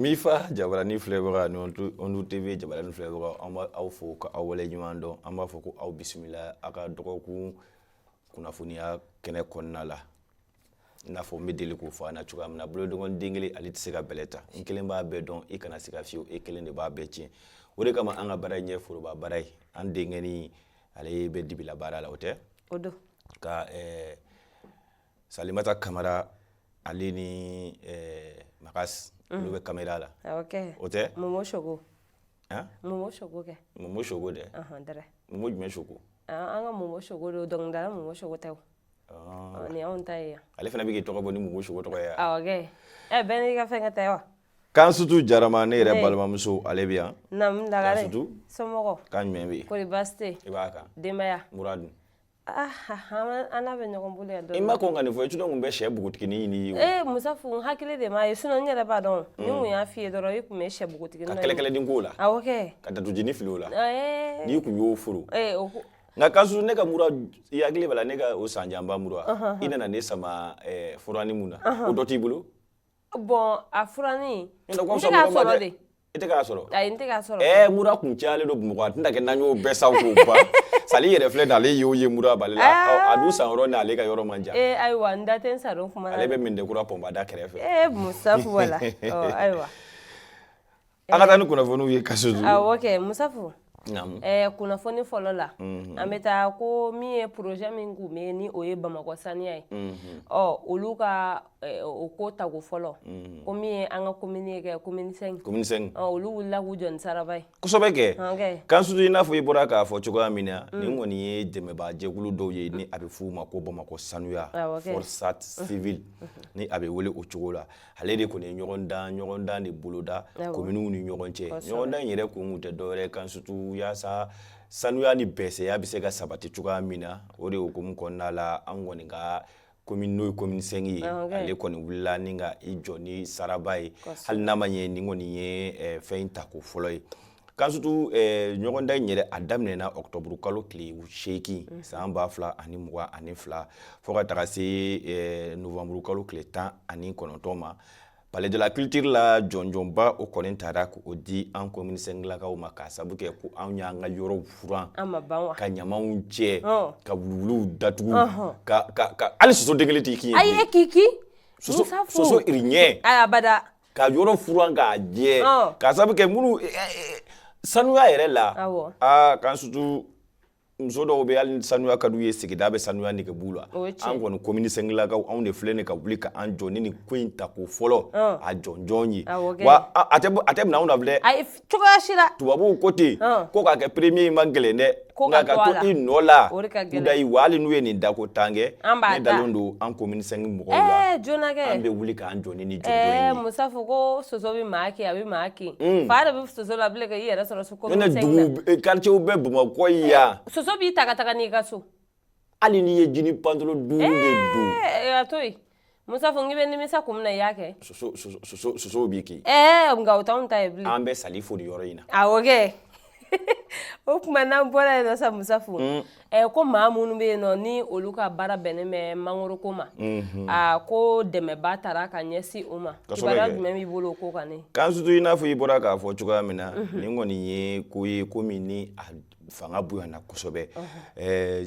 Mifa jabarani filɛbaga ni Ondu TV jabarani filɛbaga an b'aw fo ka aw wale ɲuman dɔn an b'a fɔ ko aw bisimila a ka dɔgɔkun kunnafoniya kɛnɛ kɔnɔna la i n'a fɔ n bɛ deli k'o fɔ an na cogoya min na bolonkɔnin den kelen ale tɛ se ka bɛlɛ ta n kelen b'a bɛɛ dɔn i kana se ka fiyewu e kelen de b'a bɛɛ tiɲɛ o de kama an ka baara in ye foroba baara ye an denkɛni ale bɛ dibila baara la o tɛ o don ka eh, salimata kamara ale ni eh, makas olu mm. bɛ kamera la ah, o tɛ Momo Choco Momo Choco kɛ Momo Choco dɛ Momo jumɛn Choco ah, an ka Momo Choco don dɔnkilidala Momo Choco tɛ o Ɔ ni anw ta ye yan ale fana bɛ k'i tɔgɔ bɔ ni Momo Choco tɔgɔ ye yan awɔ kɛ ɛ bɛɛ n'i ka fɛnkɛ tɛ wa Kansutu Jarama ne yɛrɛ balimamuso ale bɛ yan naamu lagare Kansutu somɔgɔ kan jumɛn bɛ yen kɔri baasi tɛ i b'a kan denbaya mura dun ah an n'a bɛ ɲɔgɔn bolo yan dɔɔni i ma kɔn ka nin fɔ i tun bɛ sɛ bugutigini ɲini i ye ee musafu n hakili de m'a ye sinon n yɛrɛ b'a dɔn ni n tun y'a f'i ye dɔrɔn i tun bɛ sɛ bugutigini ka kɛlɛkɛlɛden k'o la awɔ kɛ ka datugujini fili o la ee n'i tun y'o furu ee o ko nka Kansutu ne ka mura i hakili b'a la ne ka o san janba mura i nana ne sama furanin min na o dɔ t'i bolo bon a furanin i tɛ k'a sɔrɔ mura tun calen don Bamakɔ a tɛna kɛ n'an y'o bɛɛ san Sali yɛrɛ filɛ ale y'o ye mura b'ale la a dun san yɔrɔ n'ale ka yɔrɔ man jan ayiwa n da tɛ sa ale bɛ Medinakura pɔnpe da kɛrɛfɛ fɛ ayiwa An ka taa ni kunnafoniw ye Kansutu. Awɔ kɛ Musafu. Naamu. Ɛɛ kunnafoni fɔlɔ la. Unhun. An bɛ taa ko min ye projet min kun bɛ ni o ye Bamakɔ saniya ye. Unhun. Ɔ olu ka o ko tako fɔlɔ. Unhun. Ko min ye an ka commune ye kɛ commune 5. Commune 5. Ɔ olu wulila k'u jɔ ni saraba ye. Kosɛbɛ kɛ. Ɔn kɛ. Kansutu i n'a fɔ i bɔra k'a fɔ cogoya min na. Unhun. Nin kɔni ye dɛmɛbaa jɛkulu dɔw ye ni a bɛ f'u ma ko Bamakɔ sanuya. Awɔ kɛ. Forsat civile ni a bɛ wele o cogo la. ale de kɔni ye ɲɔgɔndan ɲɔgɔndan de boloda communew ni ɲɔgɔn cɛ ɲɔgɔndan yɛrɛ kun kun tɛ dɔwɛrɛ Kansutu yaasa sanuya ni bɛsɛya bɛ se ka sabati cogoya min na o de hukumu kɔnɔna la an kɔni ka commune n'o ye commune 5 ye ah, ale kɔni wulila ni ka i jɔ ni saraba ye hali n'a ma ɲɛ nin kɔni ye eh, fɛn in tako fɔlɔ ye kansutu eh, ɲɔgɔndan in yɛrɛ a daminɛna octobre kalo tile seegin mm. san ba fila ani mugan ani fila fɔɔ ka taga se eh, novembre kalo tile tan ani kɔnɔntɔn ma palais de la culture la jɔnjɔnba o kɔni tara k'o di an komini sɛnkilakaw ma k'a sabu kɛ ko anw y'an ka yɔrɔw furan ka ɲamanw cɛ ka wuluwuluw datugu ka hali soso den kelen t'i kin ye ayi e k'i kin soso iriɲɛ abada ka yɔrɔ furan k'a jɛ k'a sabu kɛ minnu sanuya yɛrɛ la aa kansutu muso dɔw bɛ hali sanuya ka d'u ye sigida bɛ sanuya nege b'u la an kɔni komini sɛnkilakaw anw de filɛ nin ka wuli k'an jɔ ni nin ko in ta ko fɔlɔ a jɔnjɔn ye wa a tɛ minɛ anw na bilen cogoya si la tubabuw ko ten ko ka kɛ premier ye man gɛlɛn dɛ nka ka to i nɔ la kudayi wa hali n'u ye nin ta ko tan kɛ ne dalen don an komini sɛnki mɔgɔw la an bɛ wuli k'an jɔ ni nin jɔnjɔn in ye musa fo ko soso bɛ maa kin a bɛ maa kin fa yɛrɛ bɛ soso la bilen ka i yɛrɛ sɔrɔ so komini sɛnki la ne dugu quartier bɛ bamakɔ yan soso b'i ta ka taga n'i ka so hali n'i ye jini pantolo duuru de don a to yen musa fo n k'i bɛ nimisa kun min na i y'a kɛ soso soso soso sosow b'i kin ɛɛ nka o t'anw ta ye bilen an bɛ sali fo nin yɔrɔ in na awɔ kɛ o tuma n'an bɔra yen nɔ sa musa fo ɛɛ ko maa minnu bɛ yen nɔ ni olu ka baara bɛnnen bɛ mangoro ko ma a ko dɛmɛba taara ka ɲɛsin o ma Kosɛbɛ kibaruya kɛ. jumɛn b'i bolo o ko kan ne kansutu i n'a fɔ i bɔra k'a fɔ cogoya min na nin kɔni ye ko ye ko min ni a fanga bonyana kosɛbɛ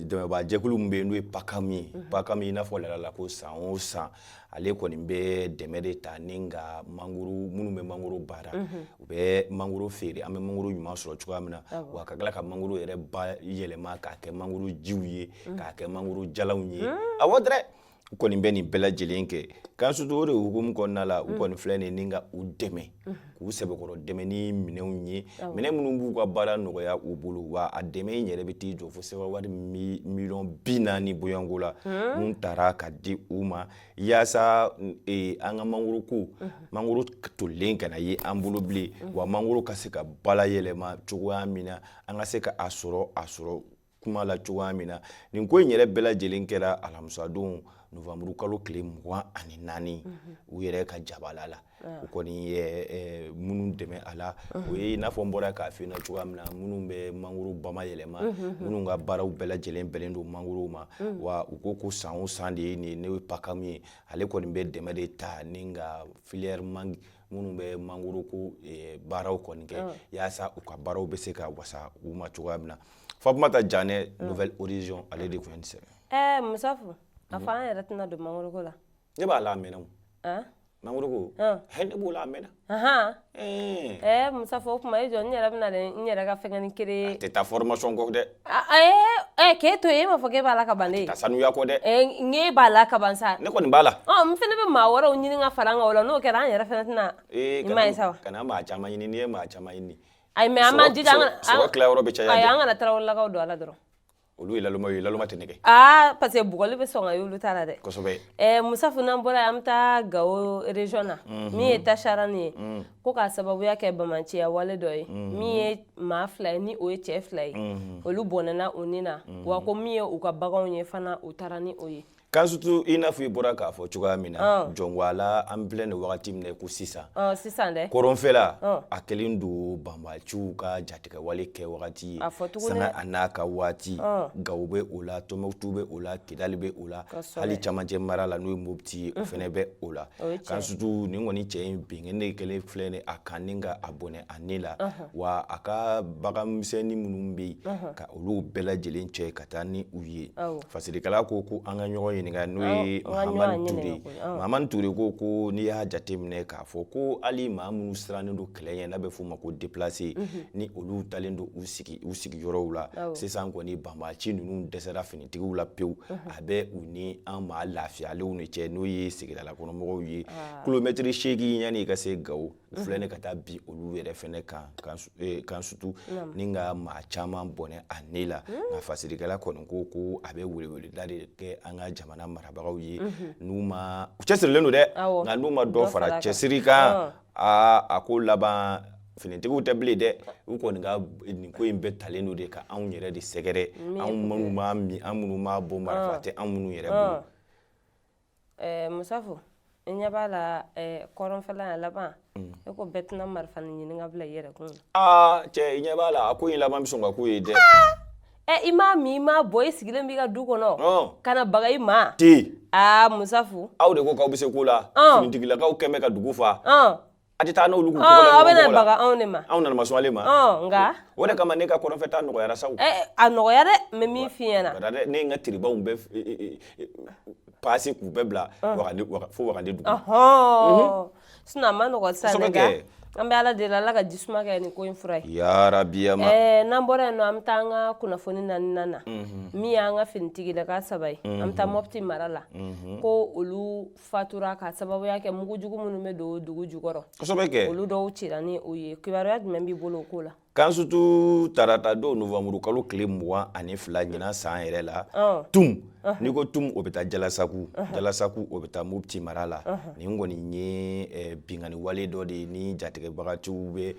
dɛmɛbaajɛkulu min bɛ yen n'o ye pakam ye pakam i n'a fɔ laada la ko san o san ale kɔni bɛ dɛmɛ de ta ni ka mangoro minnu bɛ mangoro baara u bɛ mangoro feere an bɛ mangoro ɲuman sɔrɔ cogoya min na wa ka tila ka mangoro yɛrɛ bayɛlɛma k'a kɛ mangoro jiw ye k'a kɛ mangoro jalanw ye awɔ dɛrɛ u kɔni bɛ nin bɛɛ lajɛlen kɛ kansutu o de hukumu kɔnɔna la u kɔni filɛ nin ni ka u dɛmɛ k'u sɛbɛkɔrɔ dɛmɛ ni minɛnw ye minɛn minnu b'u ka baara nɔgɔya u bolo wa a dɛmɛ in yɛrɛ bɛ t'i jɔ fo sefa wari miliyɔn bi naani bɔɲɔgɔnko la min taara ka di u ma yaasa e, an ka mangoro ko mangoro tolilen kana ye an bolo bilen wa mangoro ka se ka bala yɛlɛma cogoya min na an ka se ka a sɔrɔ a sɔrɔ tuma la cogoya min na nin ko in yɛrɛ bɛɛ lajɛlen kɛra alamisadon novamburu kalo tile mugan ani naani mhm. u yɛrɛ ka jabala la ah. u kɔni ye minnu dɛmɛ a la mhm. o ye i n'a fɔ n bɔra k'a f'i ɲɛna cogoya min na minnu bɛ mangoro bama yɛlɛma mhm, minnu ka baaraw bɛɛ lajɛlen bɛnnen don mangorow ma wa u ko ko san o san de ye nin ye n'o ye pakamu ye ale kɔni bɛ dɛmɛ de ta ni ka filière mangue minnu bɛ mangoro ko eh, baaraw kɔni kɛ ah. yaasa u ka baaraw bɛ se ka wasa u ma cogoya min na fatumata janɛ ah. nouvel horizon ale de tun ye nin sɛbɛn ɛɛ eh, musafu a fɔ an yɛrɛ tɛna don mangoro ko la ne b'a la a mɛnna o ah. mangoro ko hɛ ne b'o la a mɛnna ɛɛ eh. musafu o tuma i jɔ n yɛrɛ bɛna n yɛrɛ ka fɛngɛni kere a tɛ taa formation kɔ dɛ Ɛɛ k'e to e m'a fɔ e b'a la ka ban ne sanuya ko dɛ n'e b'a la ka ban sa ne kɔni b'a la n fana bɛ maa wɛrɛw ɲini ka fara la n'o kɛra an yɛrɛ fana tɛna ee ɲuman sa kana maa caman ɲini n'i ye maa caman ɲini ayi mais an tilayɔrɔ bɛ caya an kana tarawelelakaw don a la dɔrɔn olu ye lalma ye lalma tɛ nɛgɛ aa parce que bugɔli bɛ sɔn olu ta la dɛ kosɛbɛ musafu n'an bɔra an bɛ taa gawo région na min ye tacharani ye ko k'a sababuya kɛ banbaanciya wale dɔ ye min ye maa fila ye ni o ye cɛ fila ye mhm. olu bɔnɛna u ni na mhm. wa ko min ye u ka baganw ye fana u taara ni o ye kansutu i n'a fɔ i bɔra k'a fɔ cogoya min na ah. jɔnwala an filɛ nin wagati min na ko sisan ah, sisan dɛ kɔrɔnfɛla ah. a kɛlen don banbaciw ka jatigɛwale kɛ wagati ye sanga a n'a ka waati gawo bɛ o la tɔnbukutu bɛ o la kidali bɛ o la hali camancɛ mara la n'o ye mopti ye o fɛnɛ bɛ o la kansutu nin kɔni cɛ in binkanni kɛlen filɛ nin a kan ni ka a bɔnɛ a ni la wa a ka baganmisɛnnin minnu bɛ yen ka olu bɛɛ lajɛlen cɛ ka taa ni u ye fasirikɛla ko ko an ka ɲɔgɔn ɲininka n'o ye tu ture ko ko n'i y'a jateminɛ k'a fɔ ko hali maa minnu sirannen don kɛlɛ ɲɛ n'a bɛ f'o ma ko déplacé ni olu dalen don u sigi u sigiyɔrɔw la sisan kɔni banbaci ninnu dɛsɛra finitigiw la pewu a bɛ u ni an maa lafiyalenw de cɛ n'o ye sigidalakɔnɔmɔgɔw ye kilomɛtiri seegin yanni i ka se gawo u filɛ nin ka taa bin olu yɛrɛ fɛnɛ kan kansu- eh, kansutu Naamu. ni ka maa caman bɔnɛ a ni la nka fasirikɛla kɔni ko ko a bɛ weleweleda de kɛ an ka jamana marabagaw ye n'u ma u cɛsirilen don dɛ Awɔ. nka n'u ma dɔ Dɔ fara far'a kan. cɛsiri kan Ɔn. aa a ko laban finitigiw tɛ bilen dɛ u kɔni ka nin ko in bɛɛ talen don de ka anw yɛrɛ de sɛgɛrɛ anw minnu m'a min an minnu m'a bɔn marifa tɛ anw minnu yɛrɛ bolo eh, musafu i ɲɛ b'a la eh, kɔrɔnfɛla a laban mm. e ko bɛɛ tɛna marifanin ɲini ka bila i yɛrɛ kun aa cɛ i ɲɛ b'a la a ko in laban bɛ sɔn ka k'o ye dɛ ɛ i m'a min i m'a bɔn i sigilen b'i ka du kɔnɔ ka na baga i ma ti aa musafu aw de ko k'aw bɛ se ko la finitigilakaw kɛn bɛ ka dugu fa a tɛ taa n'olu kun kɔrɔ aw bɛ na baga anw de ma anw nana ma ale ma nka o de kama ne ka kɔrɔnfɛtaa nɔgɔyara sa a nɔgɔya dɛ mais min fi ɲɛna ka dɛ ne ye n ka tiribaw bɛɛ pasi k'u bɛɛ bila fo wagade dugu sinon a man nɔgɔ sa kɛ an bɛ ala deli ala ka jisuma kɛ nin ko in fura ye yarabi ma n'an bɔra yen nɔ an bɛ taa an ka kunnafoni naaninan na min y'an ka finitigilaka saba ye an bɛ taa mɔpti mara la ko olu fatura ka sababuya kɛ mugu jugu minnu bɛ don dugu jukɔrɔ kosɛbɛ kɛ olu dɔw cira ni o ye kibaruya jumɛn b'i bolo o ko la kan surtout tarata don novamburu kalo tile mugan ani fila ɲinan san yɛrɛ la tum n'i ko tum o bɛ taa jalasaku jalasaku o bɛ taa mopti mara la nin kɔni ye eh, binkanni wale dɔ de ye ni jatigɛbagatiw bɛ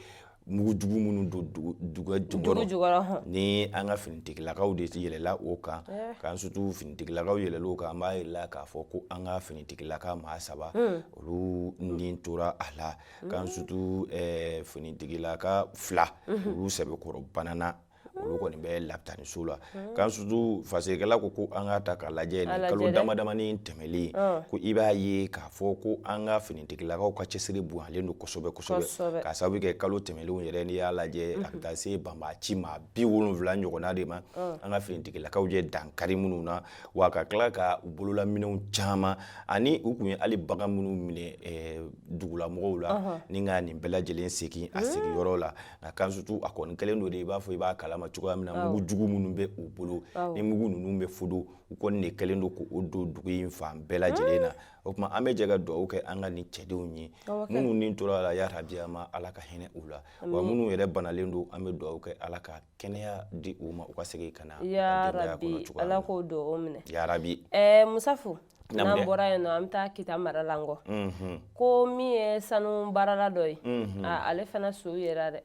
mugu jugu minnu don dugu jukɔrɔ ni an ka finitigilakaw de yɛlɛla o kan eh. kan surtout finitigilakaw yɛlɛla o kan an b'a yirala k'a fɔ ko an ka finitigilaka maa saba hmm. olu ni tora a la kan hmm. surtout eh, finitigilaka fila hmm. olu sɛbɛkɔrɔ banana olu kɔni bɛ lapitaniso la hmm. kan surtout fasekɛla ko ko an ka ta ka lajɛ ni kalo damadamani tɛmɛlen hmm. ko i b'a ye k'a fɔ ko an ka finitigilakaw ka cɛsiri bonyalen don kosɛbɛ kosɛbɛ k'a sababu kɛ kalo tɛmɛlenw yɛrɛ n'i y'a lajɛ a bɛ hmm. taa se banbaaci maa bi wolonwula ɲɔgɔnna de ma an ka finitigilakaw ye dankari minnu na wa ka tila ka u bololaminɛw caman ani u kun ye hali bagan minnu minɛ eh, dugulamɔgɔw la ni ka nin bɛɛ lajɛlen segin a sigiyɔrɔ la nka kan surtout a kɔni kɛlen don de i b'a fɔ i b'a kalama cogoya min na mugu jugu minnu bɛ u bolo ni mugu ninnu bɛ furu u kɔni de kɛlen don k'o don dugu in fan bɛɛ lajɛlen na o tuma an bɛ jɛ ka dugawu kɛ an ka nin cɛdenw ye minnu ni tora a la yarabi an maa ala ka hinɛ u la wa minnu yɛrɛ banalen don an bɛ dugawu kɛ ala ka kɛnɛya di u ma u ka segin ka na ala k'o dugawu minɛ yarabi musafo n'an bɔra yen nɔ an bɛ taa kita mara la nkɔ mhm. ko min ye sanu baarala dɔ ye mhm. ale fana su yera dɛ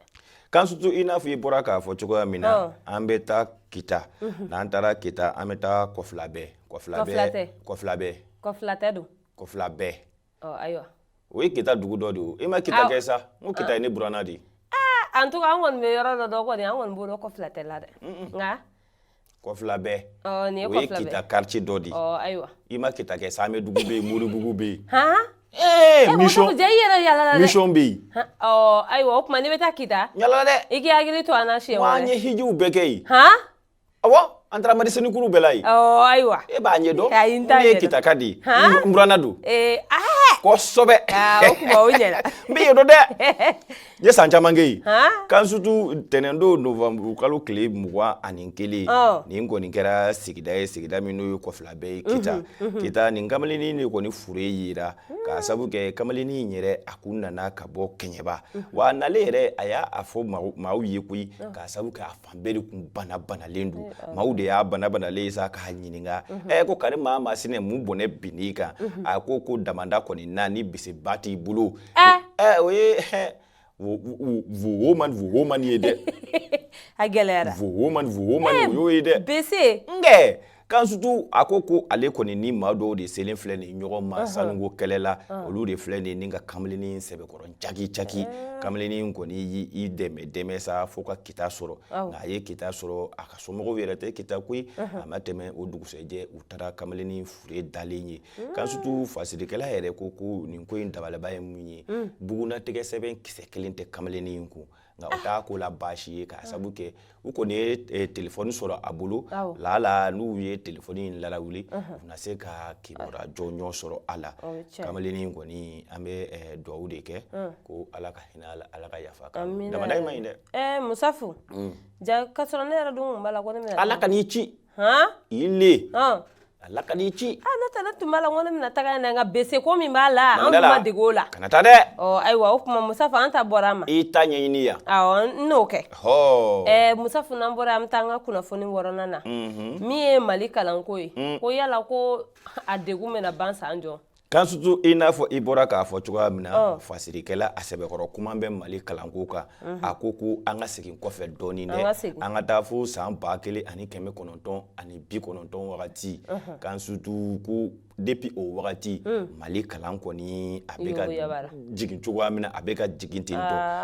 kan surtout i n'a fɔ i bɔra k'a fɔ cogoya min na an bɛ taa kita mhm. n'an taara kita an bɛ taa kɔfilabɛ kɔfilabɛ kɔfilabɛ kɔfilatɛ don kɔfilabɛ ayiwa o ye kita dugu dɔ de ye e ma kita kɛ sa n ko kita ye ne buranna de ye en tout cas an kɔni bɛ yɔrɔ dɔ dɔn kɔni an kɔni b'o dɔn kɔfila tɛ la dɛ nka kɔfilabɛ nin ye o ye kita quartier dɔ de ye ayiwa i ma kita kɛ sa samɛdugu bɛ yen moribugu bɛ yen han ee mission i yɛrɛ yala la dɛ mission bɛ yen ayiwa o tuma n'i bɛ taa kita yala dɛ i k'i hakili to an na siɲɛ wɛrɛ wa an ye hijiw bɛɛ kɛ yen han Ɔwɔ an taara marisenikuru bɛɛ la yen ayiwa e b'a ɲɛ dɔn ne ye kitaka de ye n buranna don kosɛbɛ n bɛ yen dɔn dɛ n ye san caman kɛ yen kan surtout ntɛnɛndon novamburu kalo tile mugan ani kelen nin kɔni kɛra sigida ye sigida min n'o ye kɔfilabɛ ye kita kita nin kamalenini de kɔni fure yera k'a sabu kɛ kamalenini in yɛrɛ a kun nana ka bɔ kɛɲɛba wa a nalen yɛrɛ a y'a fɔ maaw ye koyi k'a sabu kɛ fan bɛɛ de kun bana banalen don maaw de y'a bana banalen ye sa k'a ɲininka ɛ ko kari maa maasinɛ mun bɔnɛ binn'i kan a ko ko damanda kɔni na ni biseba t'i bolo ɛ o ye woman woman ye dɛ a gɛlɛyara woman woman o y'o ye dɛ bese nkɛ Kansutu a ko ko ale kɔni ni maa dɔw de selen filɛ ni ɲɔgɔn ma sanuko kɛlɛ la olu de filɛ nin ka kamalenini sɛbɛkɔrɔ caki caki kamalenini kɔni y'i dɛmɛ dɛmɛ sa fo ka kita sɔrɔ a ye kita sɔrɔ a ka somɔgɔw yɛrɛ tɛ kita koyi a ma tɛmɛ o dugusɛjɛ u taara kamalenini fure dalen ye kansutu fasirikɛla yɛrɛ ko ko nin ko in dabalaba ye mun ye bugunatigɛ sɛbɛn kisɛ kelen tɛ kamalenini in kun nka o t'a ko la baasi ye k'a sabu kɛ u kɔni ye eh, telefɔni sɔrɔ a bolo Awɔ. laala n'u ye telefɔni in lalawuli u na se ka kibaruya jɔnjɔn sɔrɔ a la O ye tiɲɛ ye. kamalennin in kɔni an bɛ eh, duwawu de kɛ ko ala ka hinɛ a la ala ka yafa a kan Amina. damanda in man ɲi dɛ ɛɛ musafu ja k'a sɔrɔ ne yɛrɛ dun kun b'a la ko ne bɛna ala kan'i ci le ala kan'i ci an ne taara tun b'a la ko ne bɛna taga nka bese ko min b'a la an tun ma dege o la kana taa dɛ ayiwa o tuma musafu an ta bɔra an ma i ta ɲɛɲini yan awɔ n n'o kɛ ɛɛ musafu n'an bɔra an bɛ taa an ka kunnafoni wɔɔrɔnan na min ye mali kalanko ye ko yala ko a degun bɛna ban san jɔn Kansutu i n'a fɔ i bɔra k'a fɔ cogoya min na fasirikɛla a sɛbɛkɔrɔ kuma bɛ mali kalanko kan a ko ko an ka segin kɔfɛ dɔɔnin dɛ an ka taa fo san ba kelen ani kɛmɛ kɔnɔntɔn ani bi kɔnɔntɔn wagati kansutu ko depuis o wagati mali kalan kɔni a bɛ ka jigin cogoya min na a bɛ ka jigin ten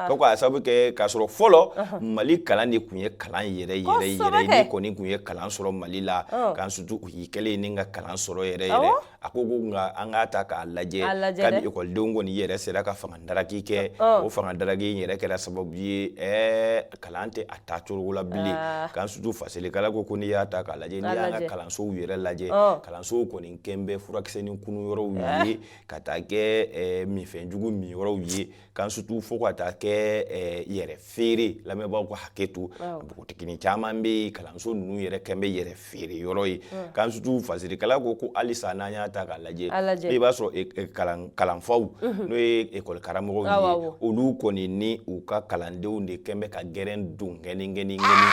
to ko a sababu kɛ k'a sɔrɔ fɔlɔ mali kalan de tun ye kalan yɛrɛ yɛrɛ yɛrɛ kɔni tun ye kalan sɔrɔ mali la kansutu u y'i kɛlen ye ni ka kalan sɔrɔ yɛrɛ yɛrɛ a ko ko nka an k'a ta k'a lajɛ kabi ekɔlidenw kɔni yɛrɛ sera ka fanga daraki kɛ o fanga daraki in yɛrɛ kɛra sababu ye ɛɛ kalan tɛ a taa cogo la bilen ah. kansutu fasirikɛla ko ko n'i y'a ta k'a lajɛ n'i y'an ka kalansow yɛrɛ lajɛ kalansow kɔni kɛn bɛ furakisɛnin kunun yɔrɔw ye ah. ka taa kɛ minfɛn jugu min yɔrɔw ye kansutu fo ka taa kɛ eh, yɛrɛ feere lamɛnbaaw ka hakɛ to npogotigini caman bɛ yen kalanso ninnu yɛrɛ kɛn bɛ yɛrɛ feere yɔrɔ ye kansutu fasirikɛla ko ko halisa n'an y'a ta k'a lajɛ i b'a sɔrɔ eh, eh, kalanfaw mhm. n'o ye ekɔli karamɔgɔw ye olu kɔni ni u ka kalandenw de kɛn bɛ ka gɛrɛn don gɛnigɛnigɛni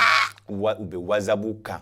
u bɛ wasabu kan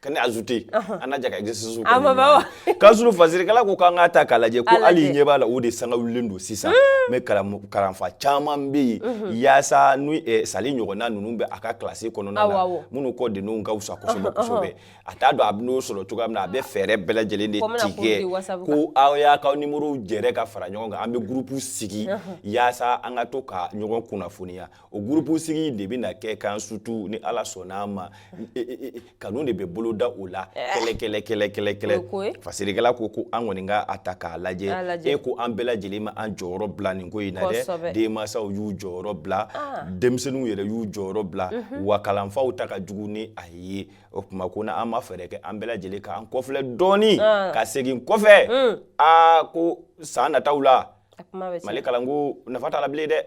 ka ne ajoute an na jɛ ka exercice kɛ ɲɔgɔn na kansutu fasirikɛla ko k'an k'a ta k'a lajɛ ko hali i ɲɛ b'a la o de sanga wulilen don sisan mais kalanfa caman bɛ yen yaasa n'u sali ɲɔgɔnna ninnu bɛ a ka kilasi kɔnɔna na minnu kɔ denninw ka fisa kosɛbɛ kosɛbɛ a t'a dɔn a bɛ n'o sɔrɔ cogoya min na a bɛ fɛɛrɛ bɛɛ lajɛlen de tigɛ ko aw y'a k'aw nimorow jɛrɛ ka fara ɲɔgɔn kan an bɛ groupe sigi yaasa an ka to ka ɲɔgɔn kunnafoniya o gurupu sigi de bɛ na kɛ kan surtout ni ala sɔnna ma e, e, e, kanu de bɛ bolo da o la eh. kɛlɛ kɛlɛ kɛlɛ kɛlɛ kɛlɛ fasirikɛla ko ko an kɔni ka a ta k'a lajɛ e ko an bɛɛ lajɛlen ma an jɔyɔrɔ bila nin ko in na dɛ denmansaw y'u jɔyɔrɔ bila ah. denmisɛnninw yɛrɛ y'u jɔyɔrɔ bila mhm. wa kalanfaw ta ka jugu ni a ye o tuma ko n'an ma fɛɛrɛ kɛ an bɛɛ lajɛlen k'an kɔfilɛ dɔɔnin ah. ka segin kɔfɛ aa mm. ah, ko san nataw la mali kalanko nafa t'a la bilen dɛ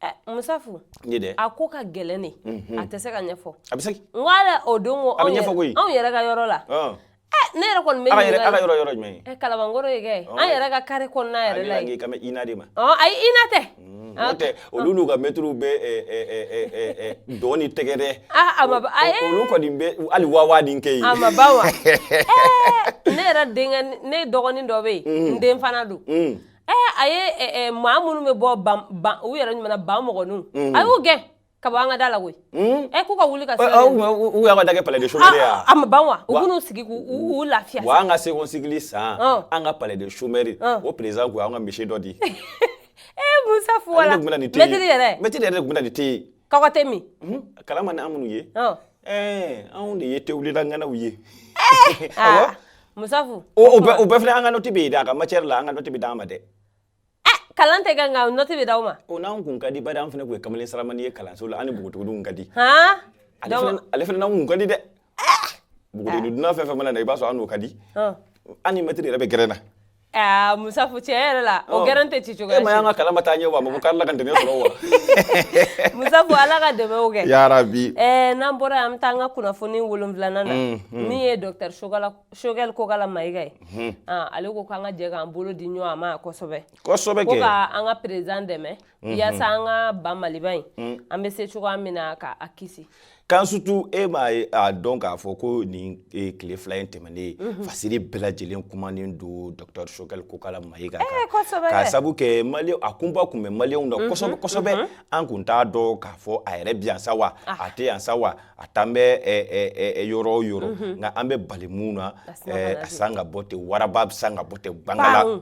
Eh, musafu ne dɛ a ko ka gɛlɛn dɛ mhm. a tɛ se ka ɲɛfɔ a bɛ se n ko ala o don ko anw ɲɛfɔ koyi anw yɛrɛ ka yɔrɔ la ah. eh, ne yɛrɛ kɔni bɛ ala yɛrɛ ala yɔrɔ yɔrɔ jumɛn ye eh, kalabankɔrɔ ye kɛ an yɛrɛ ka carré kɔnɔna yɛrɛ la ye kami ina de ma ɔ ayi ina tɛ mm, n'o tɛ olu n'u ka mɛtiriw bɛ dɔn ni tɛgɛrɛ a ma a ye olu kɔni bɛ hali wawa ni kɛ yen a ma ban wa ne yɛrɛ denkɛ ne dɔgɔnin dɔ bɛ yen mm. n den fana don mm. ɛɛ a ye eh, eh, maa minnu bɛ bɔ ban ban u yɛrɛ ɲuman na ban mɔgɔninw mm. a y'u gɛn ka bɔ an ka da la koyi mm. ɛ k'u ka wuli ka se u y'an ka da kɛ palais de chômeurs ye a ma ban wa u b'u sigi k'u lafiya wa an ka second cycle san an ka palais de chômeurs o président ko an ka misi dɔ di ee musafu wala mɛtiri yɛrɛ mɛtiri yɛrɛ de tun bɛ na ni te ye kɔkɔ te min kalama ni an minnu ye Ɛɛ anw de ye tewulila ŋanaw ye aa musafu o o bɛɛ o bɛɛ filɛ an ka nɔti bɛ yen dɛ a ka matière la an ka nɔti bɛ d'an ma dɛ kalan tɛ kɛ nka nɔti bɛ d'aw ma o n'anw kun ka di bari an fana kun ye kamalen saramani ye kalanso la an ni bogotigininw ka di han ale donc fana ale fana n'anw kun ka di dɛ bogotigini dunan fɛn o fɛn mana na i b'a sɔrɔ an n'o ka di hɔn an ni mɛtiri yɛrɛ bɛ gɛrɛn na Aa musafu cɛn yɛrɛ la o gɛrɛn tɛ ci cogo e m'a y'an ka kalan ma taa ɲɛ wa maa k'ala ka dɛmɛ sɔrɔ wa musafu ala ka dɛmɛ kɛ yarabi ɛɛ n'an bɔra an bɛ taa an ka kunnafoni wolon wolonwulanan min ye docteur choguel kokala mayiga ye ale ko k'an ka jɛ k'an bolo di ɲɔgɔn ma kosɛbɛ ko an ka président dɛmɛ Mhm. yasa an ka ba maliba in mm. an bɛ se cogoya min na ka a kisi kan surtout e m'a dɔn k'a fɔ ko nin e, tile fila in tɛmɛnen ye mhm. fasiri bɛɛ lajɛlen kumanen don docteur choguel kokala mayiga kan eh, k'a sabu kɛ a kunpa kun bɛ maliyɛnw na mhm, kosɛbɛ kosɛbɛ an kun t'a dɔn k'a fɔ a yɛrɛ bi yan sa wa ah. a tɛ yan sa wa a t'an bɛ yɔrɔ o yɔrɔ nka an bɛ bali mun na a san ka bɔ ten waraba bɛ san ka bɔ ten bangala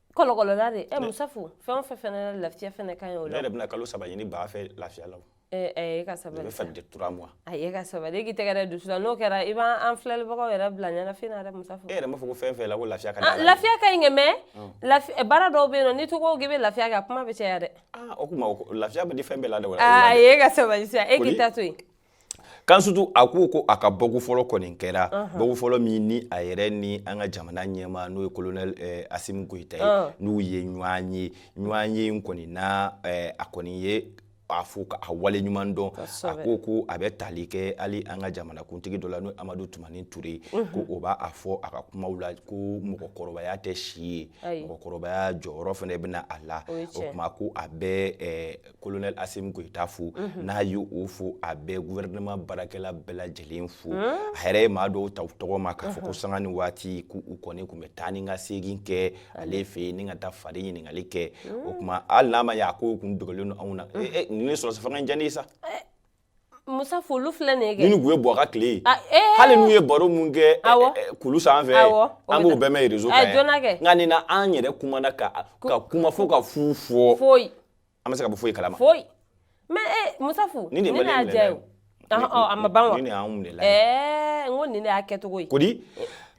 kɔlɔkɔlɔla de ɛ musafu fɛn o fɛn fɛnɛ lafiya fɛnɛ ka ɲi o la ne yɛrɛ bɛna kalo saba ɲini baa fɛ lafiya la e ka sabali bɛ fali de trois mois e ka sabali e k'i tɛgɛ d'i dusu la n'o kɛra i b'an an filɛlibagaw yɛrɛ bila ɲɛnafin na dɛ musafu e yɛrɛ m'a fɔ ko fɛn fɛn la ko lafiya ka ah, di lafiya ka ɲi kɛ mais baara dɔw bɛ yen nɔ n'i to ko k'i bɛ lafiya kɛ a kuma bɛ caya dɛ ah, o kuma lafiya bɛ di fɛn bɛɛ la dɛ e ka sabali sa e k'i ta to yen kansutu a ko ko a ka bɔko fɔlɔ kɔni kɛra bɔko fɔlɔ min ni a yɛrɛ ni an ka jamana ɲɛmaa n'o ye kolonɛli asimi goyita ye n'u ye ɲɔgɔn ye ɲɔgɔn ye in kɔni na eh, a kɔni ye a fo k'a wale ɲuman dɔn a ko ko a bɛ tali kɛ hali an ka jamanakuntigi dɔ la n'o amadu tumani ture ko o b'a fɔ a ka kumaw la ko mɔgɔkɔrɔbaya tɛ si ye mɔgɔkɔrɔbaya jɔyɔrɔ fana bɛna a la o tuma ko a bɛ eh, kolonɛli asimi goyita fo mhm. n'a ye o fo a bɛ guvɛrɛnɛma baarakɛla bɛɛ lajɛlen fo mhm. a yɛrɛ ye maa dɔw ta u tɔgɔ ma k'a fɔ ko mhm. sanga ni waati ko u kɔni tun bɛ taa ni ka segin kɛ ale fɛ yen ni ka taa fari ɲininkali kɛ o tuma hali n'a ma ɲɛ a ko kun dogolen don anw na eh, eh, nin sɔrɔdasifanga in diya ne ye sa eh, Musafu olu filɛ nin ye kɛ ni tun ye Buwa ka tile ye a ee hali n'u ye baro min kɛ ɛ awɔ ɛ kulu sanfɛ awɔ an b'o bɛɛ mɛ reseau kan yan ɛ joona kɛ nka nin na an yɛrɛ kumana ka kuma fo ka fu fɔ foyi an ma se ka bɔ foyi kalama foyi mais ee Musafu nin de ye maliyɛn minɛna ye o ɔhɔ ɔ a ma ban wa nin de y'anw minɛna ye ɛɛ n ko nin de y'a kɛcogo ye kodi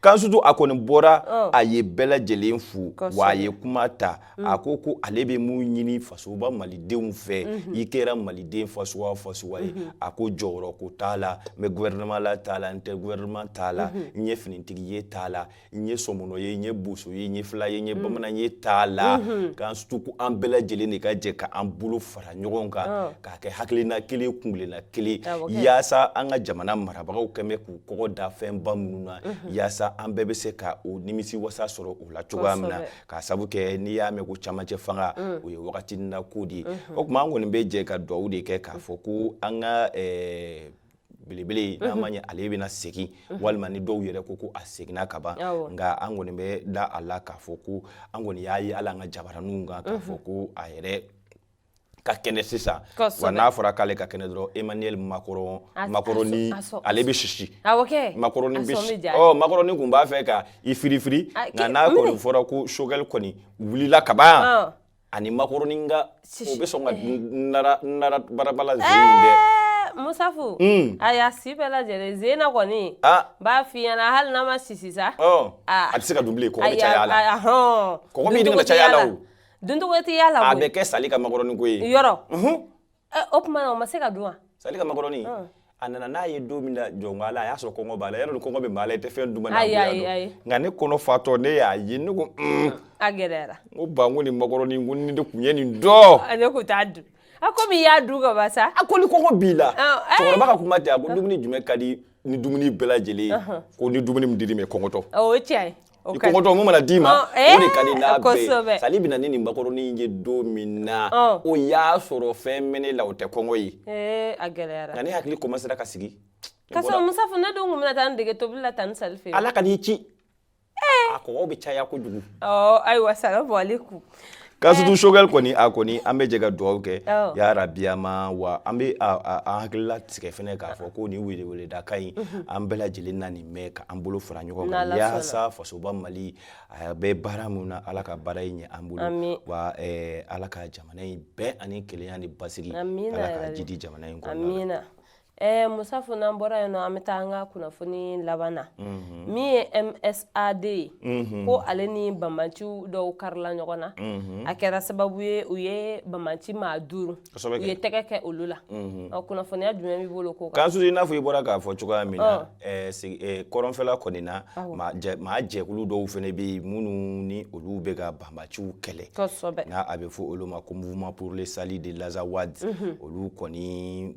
Kansutu a kɔni bɔra a ye bɛɛ lajɛlen fo wa a ye kuma ta Mm. a ko ko ale bɛ mun ɲini fasoba malidenw fɛ mm-hmm. i kɛra maliden fasuwa fasuwa ye mm-hmm. a ko jɔyɔrɔ ko t'a la n bɛ gouvernement la t'a la n tɛ gouvernement t'a la mm-hmm. n ye finitigi ye t'a la n ye sɔmɔnɔ ye n ye boso ye n ye fila ye n ye mm. bamanan ye t'a la Kansutu ko an bɛɛ lajɛlen de ka jɛ ka an bolo fara ɲɔgɔn kan oh. k'a kɛ hakilina kelen kungilenna kelen ah, yaasa an ka jamana marabagaw kɛlen bɛ k'u kɔgɔ da fɛnba minnu na yaasa an bɛɛ bɛ se ka o nimisi wasa sɔrɔ o la cogoya min na k'a sabu kɛ n'i y'a mɛn ko camancɛ fanga mm. o ye wagati na ko de ye mm-hmm. o tuma an kɔni bɛ jɛ ka dugawu de kɛ k'a fɔ ko an ka eh, belebele n'a ma ɲɛ ale bɛna segin walima ni dɔw yɛrɛ ko ko a seginna ka ban nka an kɔni bɛ da a la k'a fɔ ko an kɔni y'a ye hali an ka jabaraninw kan k'a fɔ ko a yɛrɛ ka kɛnɛ sisan wa n'a fɔra k'ale ka kɛnɛ dɔrɔn Emmanuel Macron Macroni ale bɛ sisi Macroni bɛ sisi ɔ Macroni tun b'a fɛ ka i firifiri nka n'a kɔni fɔra ko Choguel kɔni wulila ka ban yan ani Macroni ka o bɛ sɔn ka nara nara barabala zen in dɛ. Musafu a y'a si bɛɛ lajɛlen zen na kɔni n b'a f'i ɲɛna hali n'a ma sisi sa a tɛ se ka dun bilen kɔgɔ bɛ caya a la kɔgɔ min dun bɛ caya a la o Duncogo tɛ y'a la a bɛ kɛ sali ka makɔrɔnin ko ye yɔrɔ o tuma o ma se ka dun wa sali ka makɔrɔnin a nana n'a ye don min na jɔn'a la a y'a sɔrɔ kɔngɔ b'a la yɛrɛ kɔngɔ bɛ maa la i tɛ fɛn dun nka ne kɔnɔ fatɔ ne y'a ye ne ko a gɛlɛyara n ko ba n ko ni makɔrɔnin ko ni de tun ye nin dɔn a ne ko t'a dun a komi i y'a dun ka ban sa a ko ni kɔngɔ b'i la cɛkɔrɔba ka kuma diya a ko dumuni jumɛn ka di ni dumuni bɛɛ lajɛlen ye ko ni dumuni min dir'i ma kɔngɔtɔ o cɛ i kɔngɔtɔ mun mana d'i ma o de ka di n'a bɛɛ sali bɛ na ni nin makɔrɔni ye don min na o y'a sɔrɔ fɛn bɛ ne la o tɛ kɔngɔ ye a gɛlɛyara nka ne hakili commencera ka sigi ka sɔrɔ musafu ne dun tun bɛna taa n dege tobili la tanti sali fɛ ala kan'i ci a kɔgɔ bɛ caya kojugu ayiwa salamu alekum kansutu Choguel kɔni a kɔni an bɛ jɛ ka dugawu kɛ ya rabi a ma wa an bɛ an hakili latigɛ fɛnɛ k'a fɔ ko nin weleweleda kan in an bɛɛ lajɛlen na nin mɛn ka an bolo fara ɲɔgɔn kan yaasa fasoba mali a bɛ baara min na ala ka baara in ɲɛ an bolo wa ala ka jamana in bɛn ani kelenya ni basigi ala k'a jidi jamana in kɔnɔ Ɛɛ eh, musafu n'an bɔra yen nɔ an bɛ taa an ka kunnafoni laban na mhm. min ye msad ye mhm. ko ale ni banbaanci dɔw karila ɲɔgɔn na mhm. a kɛra sababu ye u ye banbaanci maa duuru u ye tɛgɛ kɛ olu la ɔ kunnafoniya jumɛn b'i bolo ko kan kansutu i n'a fɔ i bɔra k'a fɔ cogoya min na eh, eh, kɔrɔnfɛla kɔni na maa jɛkulu dɔw fɛnɛ bɛ yen minnu ni olu bɛ ka banbaanciw kɛlɛ kosɛbɛ n'a a bɛ fɔ olu ma ko mouvement pour le salut de l'Azawad olu kɔni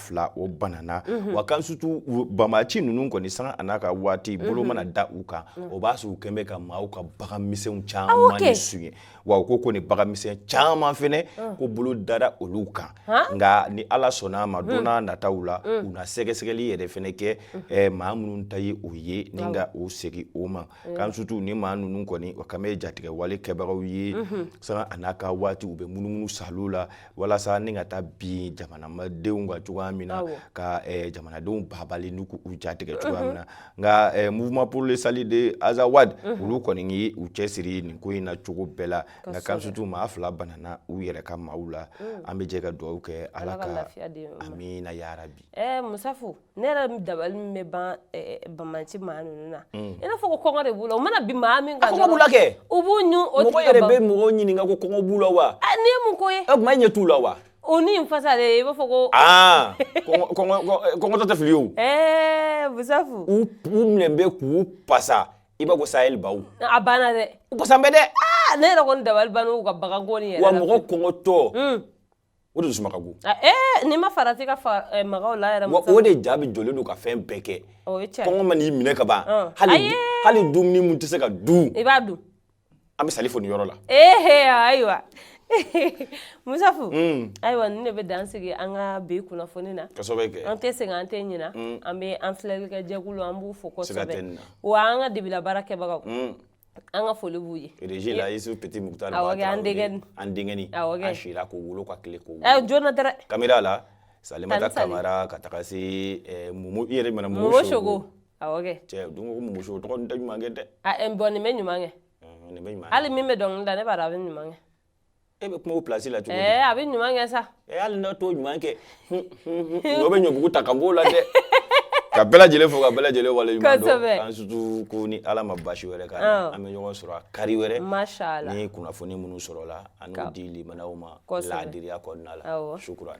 fila o banna wa kansutu banbaanci ninnu kɔni sanga n'a ka waati bolo mana da u kan o b'a sɔrɔ u kɛlen bɛ ka maaw ka baganmisɛnw caman de suɲɛ wa u ko ko nin baganmisɛn caman fɛnɛ ko bolo dara olu kan nka ni ala sɔnna a ma don n'a nataw la u na sɛgɛsɛgɛli yɛrɛ fɛnɛ kɛ maa minnu ta ye o ye ni ka o segin o ma kansutu nin maa ninnu kɔni u kɛlen bɛ jatigɛwale kɛbagaw ye sanga n'a ka waati u bɛ munumunu saliw la walasa ni ka taa bin jamanadenw kan cogoya min na ka jamanadenw babali n'u jatigɛ cogoya min na nka mouvement pour le salut de Azawad olu kɔni u cɛsiri nin ko in na cogo bɛɛ la nka kansutu maa fila banna u yɛrɛ ka maaw la an bɛ jɛ ka dugawu kɛ ala ka amiina ya rabi ne yɛrɛ dabali min bɛ ban eh, banbaanci maa ninnu na mm. i n'a fɔ ko kɔngɔ de b'u la u mana bin maa min kan kɔngɔ b'u la kɛ u b'u ɲun o mɔgɔ yɛrɛ bɛ mɔgɔ ɲininka ko kɔngɔ b'u la wa eh, nin ye mun ko ye o tuma e ɲɛ t'u la wa o ni n fasa de i b'a fɔ ko aa kɔngɔtɔ tɛ fili o ɛɛ musafu u u minɛ bɛ k'u pasa i b'a ko sahel baw a banna dɛ u pasan bɛ dɛ aa ne yɛrɛ kɔni dabali banna u ka baganko nin yɛrɛ wa mɔgɔ kɔngɔtɔ mm. o de dusuma ka go ah, eh, n'i ma farati ka fa eh, maga u la yɛrɛ o de jaabi jɔlen don ka fɛn bɛɛ kɛ kɔngɔ man'i minɛ ka ban ah. hali hali dumuni min tɛ se ka dun i b'a dun an bɛ sali fo nin yɔrɔ la ehe ah, ayiwa musafu hmm. ayiwa nin de bɛ dan sigi an ka bi kunnafoni na kosɛbɛ kɛ an tɛ sɛgɛn an tɛ ɲina hmm. an bɛ an filɛlikɛ jɛkulu an b'u fo kosɛbɛ wa an ka debila baara kɛbagaw hmm. An ka foli b'u ye régie la Isuf Petit Mukutari Awɔ kɛ an denkɛ nin an denkɛ nin awɔ kɛ a sira k'o wolo ka tile k'o wolo ɛ joona dɛrɛ caméra la Salimata Tani Sali Kamara ka taga se ɛ Momo i yɛrɛ ɲuman Momo Soko awɔ kɛ cɛ don ko Momo Soko tɔgɔ nin tɛ ɲuman kɛ dɛ a ɛ bon nin bɛ ɲuman kɛ nin bɛ ɲuman kɛ hali min bɛ dɔnkili da ne b'a dɔn a bɛ ɲuman kɛ e bɛ kuma o pilasi la cogo di ɛɛ a bɛ ɲuman kɛ sa ɛɛ hali n'a t'o ɲuman kɛ n'o bɛ ɲɔbugu ta ka b'o la dɛ ka bɛɛ lajɛlen fo ka bɛɛ lajɛlen wale ɲuman dɔn an sutu ko ni ala ma basi wɛrɛ k'an na an bɛ ɲɔgɔn sɔrɔ a kari wɛrɛ ni kunnafoni minnu sɔrɔla an n'o di limanaw ma laadiriya kɔnɔna la shukran